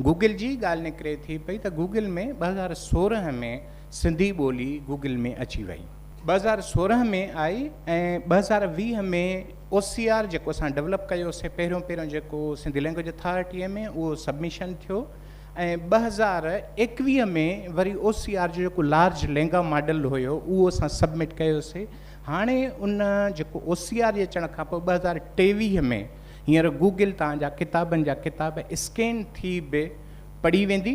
Google جي ڳالهه نڪري ٿي پئي ته گوگل ۾ ٻه هزار سورهن ۾ سنڌي ٻولي گوگل ۾ اچي وئي، ٻه هزار سورهن ۾ آئي ۽ ٻه هزار ويهه ۾ او سي آر جيڪو اسان ڊولپ ڪيو سي پهريون پهريون جيڪو سنڌي لينگويج اٿارٽيء ۾ اهو سبميشن ٿيو ۽ ٻه هزار ايڪويهه ۾ وري او سي آر جو جيڪو لارج لينگا ماڊل هيو اهو اسان سبمٽ ڪيو سي هاڻي ان جيڪو او سي آر جي اچڻ کانپوء ٻه هزار ٽيويهه ۾ هينئر گوگل توهان جا ڪتابن جا ڪتاب اسڪين ٿي به پڙهي ويندي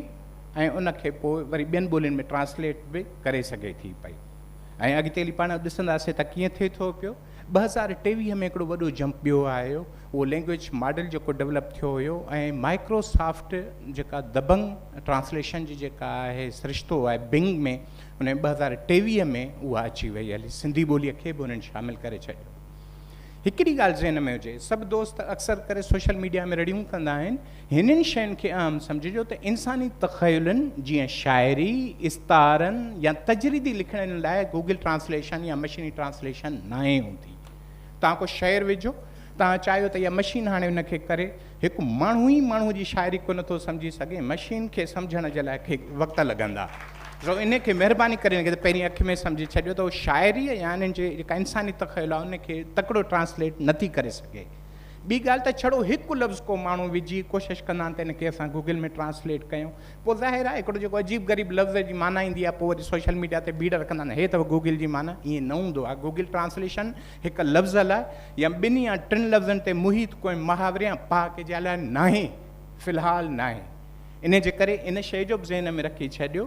۽ ان کي پوء وري ٻين ٻولين ۾ ٽرانسليٽ به ڪري سگهي ٿي پئي ۽ اڳتي هلي پاڻ ڏسنداسين ته ڪيئن ٿئي ٿو پيو ٻه هزار ٽيويهه ۾ هڪڙو وڏو جمپ ٻيو آيو اهو لينگويج ماڊل جيڪو ڊيولپ ٿيو هيو ۽ مائڪروسافٽ جيڪا دبنگ ٽرانسليشن جي جيڪا آهي سرشتو آهي بنگ ۾ ان ٻه هزار ٽيويهه ۾ اها اچي وئي هلي سنڌي ٻوليء کي به انهن شامل ڪري ڇڏيو هڪڙي ڳالهه ذهن ۾ هجي، سڀ دوست اڪثر ڪري سوشل ميڊيا ۾ رڙيون ڪندا آهن، هنن شين کي اهم سمجهجو ته انساني تخيلن جيئن شاعري، استعارن يا تجريدي لکڻين لاء گوگل ٽرانسليشن يا مشيني ٽرانسليشن ناهي هوندي. توهان ڪو شعر وجهو، توهان چاهيو ته اها مشين هاڻي ان کي ڪري، هڪ ماڻهو ئي ماڻهو جي شاعري ڪونه ٿو سمجهي سگهي، مشين کي سمجهڻ جي لاء کي وقت لڳندا. سو ان کي مهرباني ڪري ان کي ته پهرين اک ۾ سمجهي ڇڏيو ته شاعري يا انهن جي جيڪا انساني تخيل آهي ان کي تڪڙو ٽرانسليٽ نه ٿي ڪري سگهي. ٻي ڳالهه ته ڇڙو هڪ لفظ ڪو ماڻهو وجهي ڪوشش ڪندا آهن ته ان کي اسان گوگل ۾ ٽرانسليٽ ڪيون پوء ظاهر آهي هڪڙو جيڪو عجيب غريب لفظ جي معنيٰ ايندي آهي پوء وري سوشل ميڊيا تي ڀيڙ رکندا آهن هي اٿو گوگل جي معنيٰ ائين نه هوندو آهي گوگل ٽرانسليشن هڪ لفظ لاء يا ٻن يا ٽن لفظن تي محيط ڪوئي محاوري يا پهاڪي جي لاء ناهي، في الحال ناهي. انهي جي ڪري ان شيء جو به ذهن ۾ رکي ڇڏيو.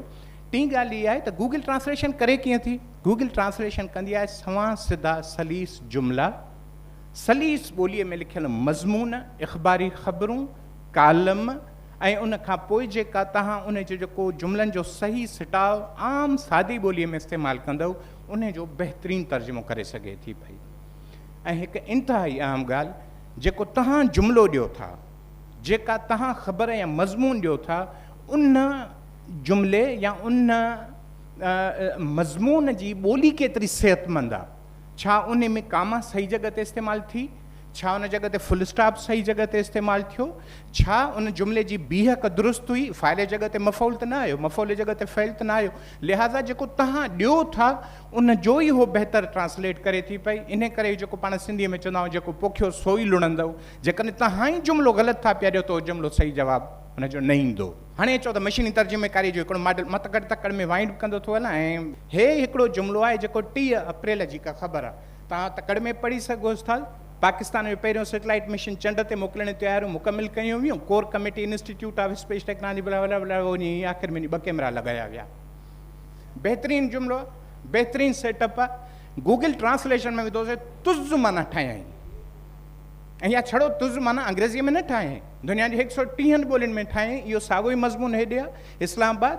ٽين ڳالهه هيء آهي ته گوگل ٽرانسليشن ڪري ڪيئن ٿي؟ گوگل ٽرانسليشن ڪندي آهي سوانح سڌا سليس جملا، سليس ٻوليء ۾ لکيل مضمون، اخباري خبرون، ڪالم ۽ ان کان پوء جيڪا توهان انهي جي جو ڪو جملن جو صحيح سٽاء عام سادي ٻوليء ۾ استعمال ڪندؤ، انهي جو بهترين ترجمو ڪري سگهي ٿي پئي ۽ هڪ انتهائي اهم ڳالهه جيڪو توهان جملو ڏيو ٿا جيڪا توهان خبر يا مضمون ڏيو ٿا ان جملي يا ان مضمون جي ٻولي ڪيتري صحتمند آ ڇا انهي ۾ ڪاما صحيح جڳهه تي استعمال ٿي ڇا ان جڳهه تي فل اسٽاپ صحيح جڳهه تي استعمال ٿيو ڇا ان جملي جي بيهڪ درست هئي فاعل جي جڳهه تي مفعول ته نه آيو مفعول جي جڳهه تي فعل ته نه آيو لهٰذا جيڪو توهان ڏيو ٿا ان جو ئي هو بهتر ٽرانسليٽ ڪري ٿي پئي. انهيء ڪري جيڪو پاڻ سنڌيء ۾ چوندا آهيون جيڪو پوکيو سو ئي لڻندو. جيڪڏهن توهان ئي جملو غلط ٿا پيا ڏيو ته اهو جملو صحيح جواب ان جو نه ايندو. هاڻي چئو ته مشيني ترجميڪاريء جو هڪڙو ماڊل متڪڙ تڪڙ ۾ وائنڊ ڪندو ٿو هلان ۽ هي هڪڙو جملو آهي جيڪو ٽيهه اپريل جي ڪا خبر آهي. توهان تڪڙ ۾ پڙهي سگهو ٿا ته پاڪستان ۾ پهريون سيٽلائيٽ مشن چنڊ تي موڪلڻ جون تياريون مڪمل ڪيون ويون، core committee, institute of space technology blah blah بلا وڃي ۽ آخر ۾ وڃي ٻه ڪيمرا لڳايا ويا. بهترين جملو، بهترين سيٽ اپ، گوگل ٽرانسليشن ۾ وڌو سي طز معنيٰ ٺاهيائين ۽ يا ڇڙو طز معنيٰ انگريزيء ۾ نه ٺاهيائين، دنيا جي هڪ سئو ٽيهن ٻولين ۾ ٺاهيائين، اهو ساڳيو ئي مضمون هيڏي آهي، اسلام آباد،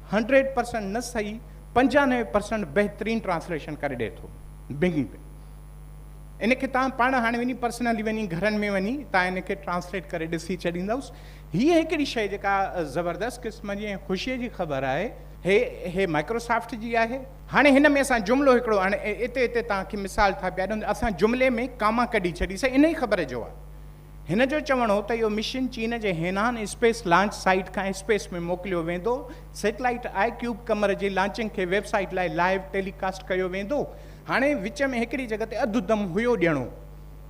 هنڊريڊ پرسنٽ نه صحيح پنجانوي پرسنٽ بهترين ٽرانسليشن ڪري ڏئي ٿو بنگ به ان کي تان پاڻ هاڻي وڃي پرسنلي وڃي گهرن ۾ وڃي تان ان کي ٽرانسليٽ ڪري ڏسي ڇڏيندوس هي هڪڙي شيء جيڪا زبردست قسم جي ۽ خوشي جي خبر آهي هي هي مائڪروسافٽ جي آهي هاڻي هن ۾ اسان جملو هڪڙو هاڻي اتي اتي تان کي مثال ٿا پيا ڏيون اسان جملي ۾ ڪاما ڪڍي ڇڏي سي ان ئي خبر جو آهي هن جو چوڻ هو ته اهو مشن چين جي هينان اسپيس لانچ سائيٽ کان اسپيس ۾ موڪليو ويندو، سيٽلائيٽ آء ڪيوب قمر جي لانچنگ کي ويب سائيٽ لاء لائيو ٽيلي ڪاسٽ ڪيو ويندو، هاڻي وچ ۾ هڪڙي جڳهه تي اڌ دم هيو ڏيڻو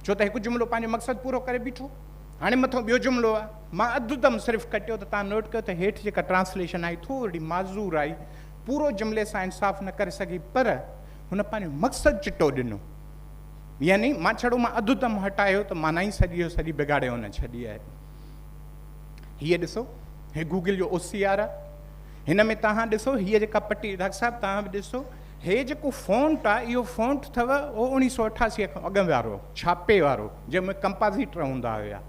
ڇو ته هڪ جملو پنهنجو مقصد پورو ڪري بيٺو هاڻي مٿو ٻيو جملو آ مان اڌ دم صرف ڪٽيو ته تان نوٽ ڪيو ته هيٺ جيڪا ٽرانسليشن آئي ٿورڙي معذور آئي پورو جملي سان انصاف نه ڪري سگهي پر هن پنهنجو مقصد چٽو ڏنو. يعني مان ڇڙو مان اڌ دم هٽايو ته مان نه ئي سڄي جو سڄي بگاڙي هن ڇڏي آهي. هيء ڏسو، هي گوگل جو او سي آر آهي. هن ۾ توهان ڏسو هيء جيڪا پٽي، ڊاڪٽر صاحب توهان به ڏسو، هي جيڪو فونٽ آهي اهو فونٽ اٿو اهو اوڻيهه سؤ اٺاسي کان اڳ وارو ڇاپي وارو جنهن ۾ ڪمپازيٽر هوندا هيا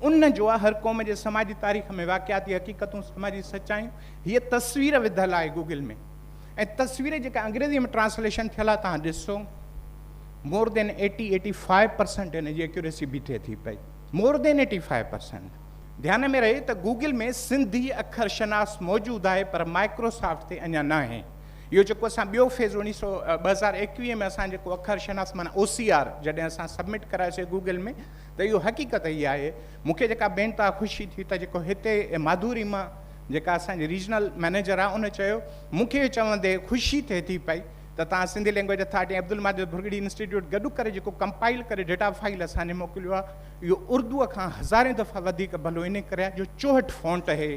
ان جو آهي. هر قوم جي سماجي تاريخ ۾ واقعاتي حقيقتون، سماجي سچايون هيء تصوير وڌل آهي گوگل ۾. ۽ تصوير جيڪا انگريزي ۾ ٽرانسليشن ٿيل آهي تهان ڏسو more than eighty eighty five percent هن جي ايڪيوريسي بيٺي ٿي پئي more than eighty five percent ڌيان ۾ رهي ته گوگل ۾ سنڌي اکر شناس موجود آهي پر مائڪروسافٽ تي اڃا نه آهي اهو جيڪو اسان ٻيو فيز اڻيهه سو ٻه هزار ايڪويهه ۾ اسان جيڪو اکر شناس مانا او سي آر جڏهن اسان سبمٽ ڪرايوسي گوگل ۾ ته اهو حقيقت هي آهي مونکي جيڪا بينتا خوشي ٿي ته جيڪو هتي ماڌوري مان جيڪا اسان جي ريجنل مئنيجر آهي ان چيو مون کي اهو چوندي خوشي ٿئي ٿي پئي ته توهان Sindhi language authority ۽ Abdul Majid Bhurgri institute گڏ ڪري جيڪو ڪمپائل ڪري ڊيٽا فائيل اسان کي موڪليو آهي اهو اردوء کان هزارين دفعا وڌيڪ ڀلو ان ڪري آهي جو چوهٺ فونٽ هي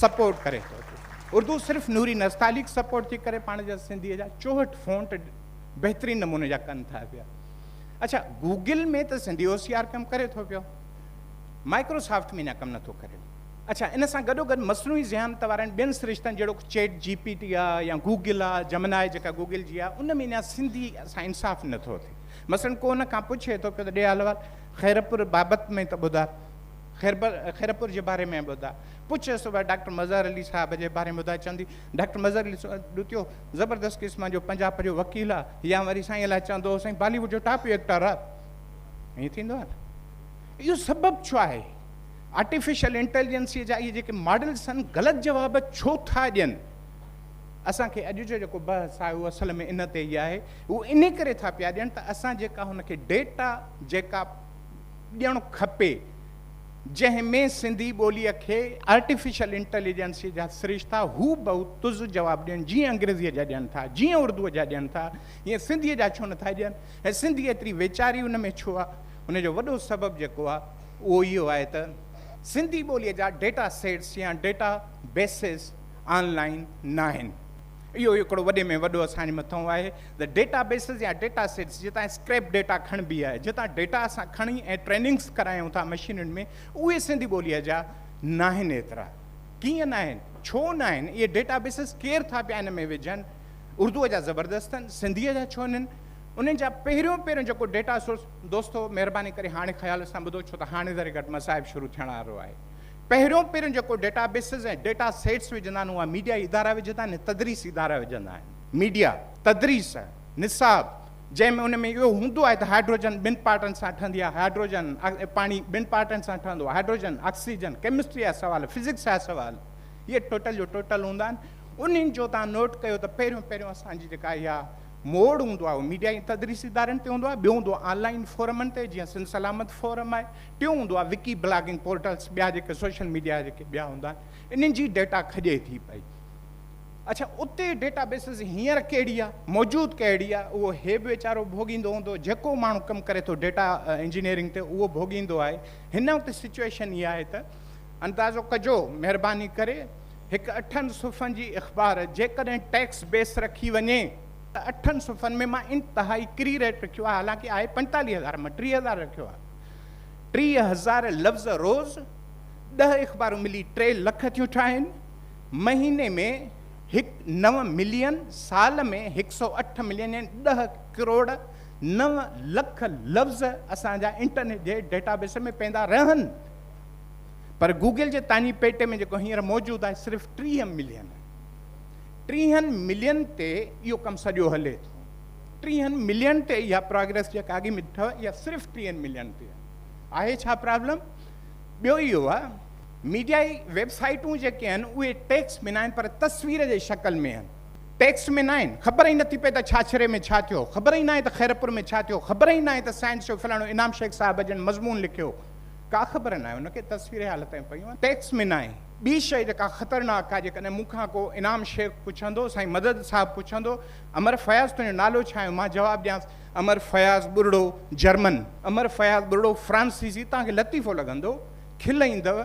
سپورٽ ڪري ٿو اردو صرف نوري نستعليق سپورٽ ٿي ڪري پاڻ جا سنڌيء جا چوهٺ فونٽ بهترين نموني جا ڪن ٿا پيا اچھا گوگل ۾ ته سنڌي او سي آر ڪم ڪري ٿو پيو مائڪروسافٽ ۾ اڃا ڪم نٿو ڪري اڇا ان سان گڏوگڏ مصنوعي ذهانت وارن ٻين سرشتن جهڙوڪ چيٽ جي پي ٽي آ يا گوگل آ جمنائي جيڪا گوگل جي آ ان ۾ اڃا سنڌي سان انصاف نه ٿو ٿئي مثلا ڪو ان کان پڇي ٿو پيو ته ڏي احوال خيرپور بابت ۾ ته ٻڌاء خيرپور جي باري ۾ ٻڌاء پڇيس ٿو ڀلا ڊاڪٽر مظهر علي صاحب جي باري ۾ ٻڌاء چوندي ڊاڪٽر مظهر علي ڏتيو زبردست قسم جو پنجاب جو وڪيل آ يا وري سائين الاء چوندو سائين بالي ووڊ جو ٽاپ ايڪٽر آ ائين ٿيندو آ نه اهو سبب ڇو آهي آرٽيفيشل انٽيليجنسيء جا اهي جيڪي ماڊلز آهن، غلط جواب ڇو ٿا ڏين؟ اسان کي اڄ جو جيڪو بحث آهي اهو اصل ۾ ان تي ئي آهي. هو انهي ڪري ٿا پيا ڏين ته اسان جيڪا هن کي ڊيٽا جيڪا ڏيڻ کپي، جنهن ۾ سنڌي ٻوليء کي آرٽيفيشل انٽيليجنسيء جا سرشتا هو بهو طز جواب ڏين، جيئن انگريزيء جا ڏين ٿا، جيئن اردوء جا ڏين ٿا، ايئن سنڌيء جا ڇو نه ٿا ڏين ۽ سنڌي ايتري ويچاري ان ۾ ڇو آهي؟ ان جو وڏو سبب جيڪو آهي. اهو اهو آهي ته سنڌي ٻوليء جا ڊيٽا سيٽس يا ڊيٽا بيسز آن لائن ناهن. اهو هڪڙو وڏي ۾ وڏو اسان جي مٿئون آهي ته ڊيٽا بيسز يا ڊيٽا سيٽس جتان اسڪريپ ڊيٽا کڻبي آهي، جتان ڊيٽا اسان کڻي ۽ ٽريننگز ڪرايون ٿا مشينن ۾، اهي سنڌي ٻوليء جا ناهن ايترا. ڪيئن ناهن؟ ڇو ناهن؟ اهي ڊيٽا بيسز ڪير ٿا پيا ان ۾ وجهن؟ اردوء جا زبردست اهن، سنڌيء جا ڇو نهن؟ انهن جا پهريون پهريون جيڪو ڊيٽا سورس، دوستو مهرباني ڪري هاڻي خيال سان ٻڌو ڇو ته هاڻي ذري گهٽ مصائب شروع ٿيڻ وارو آهي. پهريون پهريون جيڪو ڊيٽا بيسز ۽ ڊيٽا سيٽس وجهندا آهن اها ميڊيائي ادارا وجهندا آهن ۽ تدريسي ادارا وجهندا آهن. ميڊيا، تدريس، نصاب جنهن ۾ ان ۾ اهو هوندو آهي ته هائڊروجن ٻن پارٽن سان ٺهندي آهي، هائڊروجن، پاڻي ٻن پارٽن سان ٺهندو آهي، هائڊروجن، آڪسيجن، ڪيمسٽري جا سوال، فزڪس جا سوال اهي ٽوٽل جو ٽوٽل هوندا آهن. انهن جو توهان نوٽ ڪيو ته پهريون پهريون اسان جي جيڪا اها موڙ هوندو آهي اهو ميڊيا ۽ تدريسي ادارن تي هوندو آهي، ٻيو هوندو آهي آن لائين فورمن تي جيئن سنڌ سلامت فورم آهي، ٽيون هوندو آهي وڪي بلاگنگ پورٽلز ٻيا جيڪي سوشل ميڊيا جيڪي ٻيا هوندا آهن انهن جي ڊيٽا کڄي ٿي پئي. اڇا اتي ڊيٽا بيسز هينئر ڪهڙي آهي موجود ڪهڙي آهي اهو هي به ويچارو ڀوڳيندو هوندو جيڪو ماڻهو ڪم ڪري ٿو ڊيٽا انجنيئرنگ تي اهو ڀوڳيندو آهي هن وقت سچوئيشن اها آهي ته اندازو ڪجو مهرباني ڪري هڪ اٺن صفحن جي اخبار جيڪڏهن ٽيڪس بيس رکي وڃي ته اٺن صفحن ۾ مان انتهائي ڪري ريٽ رکيو آهي حالانڪه آهي پنجيتاليهه هزار مان ٽيهه هزار رکيو آهي ٽيهه هزار لفظ روز ڏهه اخبارون ملي ٽي لک ٿيون ٺاهين مهيني ۾ هڪ نو ملين سال ۾ هڪ سؤ اٺ ملين يعني ڏهه ڪروڙ نو لک لفظ اسان جا انٽرنيٽ جي ڊيٽا بيس ۾ پيندا رهن پر گوگل جي تاڃي پيٽي ۾ جيڪو هينئر موجود آهي صرف ٽيهه ملين آهي. ٽيهن ملين تي اهو ڪم سڄو هلي ٿو. ٽيهن ملين تي اها پراگريس جيڪا اڳي ۾ اٿو اها صرف ٽيهن ملين تي آهي ڇا پرابلم؟ ٻيو اهو آهي ميڊيا ئي ويب سائيٽون جيڪي آهن اهي ٽيڪسٽ ۾ ناهن پر تصوير جي شڪل ۾ آهن. ٽيڪسٽ ۾ ناهن خبر ئي نٿي پئي ته ڇاڇري ۾ ڇا ٿيو، خبر ئي ناهي ته خيرپور ۾ ڇا ٿيو، خبر ئي ناهي ته سائنس شو فلاڻو انعام شيخ صاحب جن مضمون لکيو، ڪا خبر ناهي هن کي تصويري حالتين پيون ۽ ٽيڪس ۾ ناهي ٻي شئي جيڪا خطرناڪ آهي جيڪڏهن مون کان ڪو انعام شيخ پڇندو سائين مدد صاحب پڇندو امر فياض تنهنجو نالو ڇا آهي مان جواب ڏيانس امر فياض ٻرڙو جرمن امر فياض ٻرڙو فرانسيسي توهان کي لطيفو لڳندو کل ايندو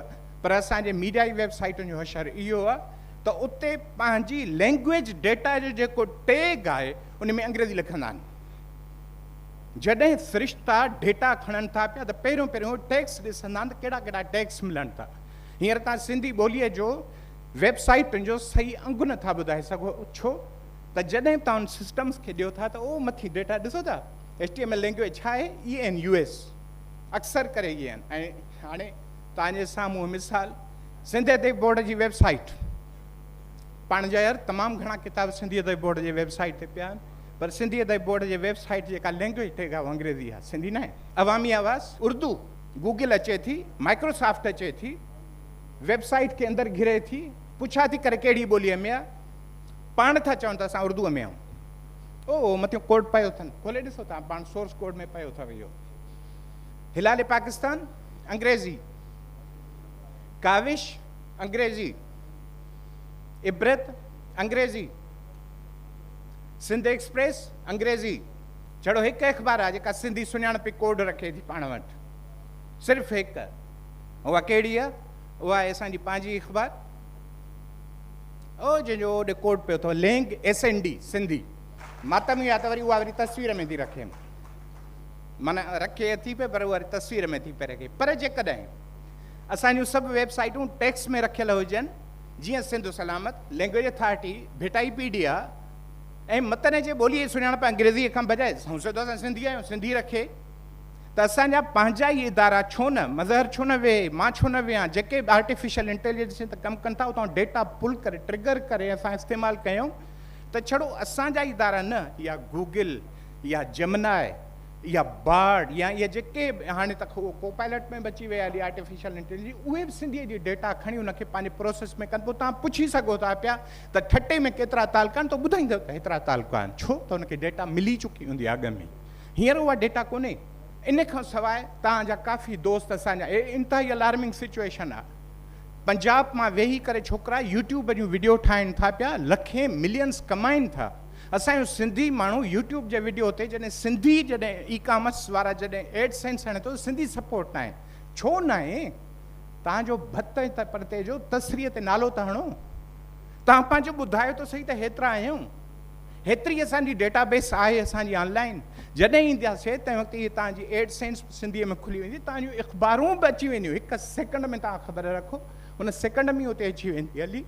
پر اسان جي ميڊيا جي ويب سائيٽن جو حشر اهو آهي ته اتي پنهنجي لينگويج ڊيٽا جو جيڪو ٽيگ آهي ان ۾ انگريزي لکندا آهن. جڏهن سرشتا ڊيٽا کڻن ٿا پيا ته پهريون پهريون هو ٽيگس ڏسندا آهن ته ڪهڙا ڪهڙا ٽيگس ملن ٿا. هينئر توهان سنڌي ٻوليء جو ويب سائيٽن جو صحيح انگ نه ٿا ٻڌائي سگهو ڇو ته جڏهن توهان ان سسٽمز کي ڏيو ٿا ته اهو مٿي ڊيٽا ڏسو ٿا HTML لينگويج ڇا آهي ENUS اڪثر ڪري اهي آهن ۽ هاڻي توهان جي سامهون مثال سنڌ ادبي بورڊ جي ويب سائيٽ پاڻ جا يار تمام گهڻا ڪتاب سنڌي ادبي بورڊ جي ويب سائيٽ تي پيا آهن پر سنڌي ادبي بورڊ جي ويب سائيٽ جي جيڪا لينگويج ٽيگ آهي اها انگريزي آهي سنڌي ناهي عوامي آواز اردو گوگل اچي ٿي مائڪرو سافٽ اچي ٿي ويب سائيٽ کي اندر گهري ٿي پڇا ٿي ڪري ڪهڙي ٻوليء ۾ آهي پاڻ ٿا چون ته اسان اردو ۾ آهيون او او مٿيون ڪوڊ پيو اٿن کولي ڏسو تان پاڻ سورس ڪوڊ ۾ پيو اٿو اهو هلال پاڪستان انگريزي ڪاوش انگريزي عبرت انگريزي سنڌ ايڪسپريس، انگريزي، جھڙو ھڪ اخبار آھي جيڪا سنڌي سڃاڻپي ڪوڊ رکي ٿي پاڻ وٽ. صرف ھڪ. اھا ڪھڙي آھي؟ اھا آھي اسان جي پنھنجي اخبار او جنھن جو اوڏي ڪوڊ پيو اٿو lang S N D Sindhi. ماتم اھا ته وري اھا وري تصوير ۾ ٿي رکين. معنی رکي اٿي پئي پر اھا تصوير ۾ ٿي پئي رکي. پر جيڪڏھن اسان جون سڀ ويب سائيٽون ٽيڪس ۾ رکيل ھجن جيئن Sindh Salamat, language authority, Bhitaipedia ۽ متن جي ٻوليء جي سڃاڻپ انگريزيء کان بجاء سائين سڌو اسان سنڌي آهيون، سنڌي رکي ته اسان جا پنهنجا ئي ادارا ڇو نه، مظهر ڇو نه ويهي، مان ڇو نه ويهان، جيڪي به آرٽيفيشل انٽيليجنس تي ڪم ڪن ٿا اتان ڊيٽا پل ڪري، ٽرگر ڪري اسان استعمال ڪيون ته ڇڙو اسان جا ئي ادارا نه يا گوگل يا جيمنائي، يا بارڊ يا اهي جيڪي به هاڻي ته اهو ڪو پائلٽ ۾ به اچي وئي آهي آرٽيفيشل انٽيليجنس اهي به سنڌي جي ڊيٽا کڻي ان کي پنهنجي پروسيس ۾ ڪن پوء تان پڇي سگهو ٿا پيا ته ٺٽي ۾ ڪيترا تعلقا آهن ته ٻڌائيندو ته هيترا تعلقا آهن ڇو ته ان کي ڊيٽا ملي چڪي هوندي آهي اڳ ۾ هينئر اها ڊيٽا ڪونهي ان کان سواء توهان جا ڪافي دوست اسان جا هي انتهائي الارمنگ سچويشن آهي پنجاب مان ويهي ڪري ڇوڪرا يوٽيوب جون وڊيو ٺاهين ٿا پيا لکين ملينس ڪمائين ٿا اسان جو سنڌي ماڻهو يوٽيوب جي وڊيو تي جڏهن سنڌي جڏهن اي ڪامرس وارا جڏهن ايڊ سينس هڻي ٿو سنڌي سپورٽ ناهي ڇو ناهي توهان جو ڀت ۽ پرتي جو تصريح تي نالو ته هڻو توهان پنهنجو ٻڌايو ته صحيح ته هيترا آهيون هيتري اسان جي ڊيٽا بيس آهي اسان جي آن لائن جڏهن اينداسي تنهن وقت هي توهان جي ايڊ سينس سنڌي ۾ کلي ويندي توهان جون اخبارون به اچي وينديون هڪ سيڪنڊ ۾ توهان خبر رکو ان سيڪنڊ ۾ اتي اچي ويندي هلي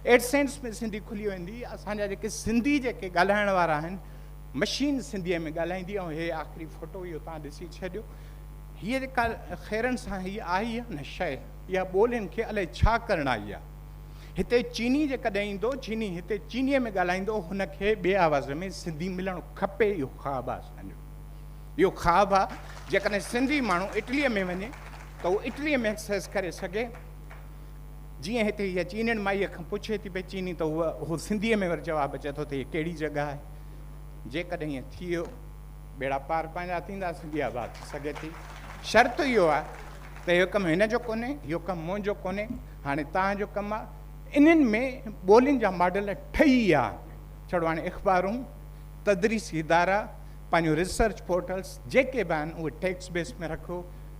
اهڙي سينس ۾ سنڌي کلي ويندي، اسان جا جيڪي سنڌي جيڪي ڳالهائڻ وارا آهن، مشين سنڌيء ۾ ڳالهائيندي ۽ هي آخري فوٽو اهو توهان ڏسي ڇڏيو، هيء جيڪا خيرن سان هيء آئي آهي نه شيء، اها ٻولين کي الائي ڇا ڪرڻ آئي آهي. هتي چيني جيڪڏهن ايندو، چيني هتي چينيء ۾ ڳالهائيندو، هن کي ٻئي آواز ۾ سنڌي ملڻ کپي، اهو خواب آهي اسان جو. اهو خواب آهي، جيڪڏهن سنڌي ماڻهو اٽليء ۾ وڃي ته اهو اٽليء ۾ ايڪسرسائيز ڪري سگهي. جيئن هتي هيء چينڻ مائيء کان پڇي ٿي پئي چيني ته هو اهو سنڌيء ۾ وري جواب اچي ٿو ته هيء ڪهڙي جڳهه آهي. جيڪڏهن ائين ٿي ويو ٻيڙا پار پنهنجا ٿيندا سنڌي آباد ٿي سگهي ٿي. شرط اهو آهي ته اهو ڪم هن جو ڪونهي اهو ڪم منهنجو ڪونهي هاڻي توهان جو ڪم آهي انهن ۾ ٻولين جا ماڊل ٺهي ويا ڇڙو هاڻي اخبارون تدريسي ادارا پنهنجو ريسرچ پورٽلس جيڪي به آهن اهي ٽيڪس بيس ۾ رکو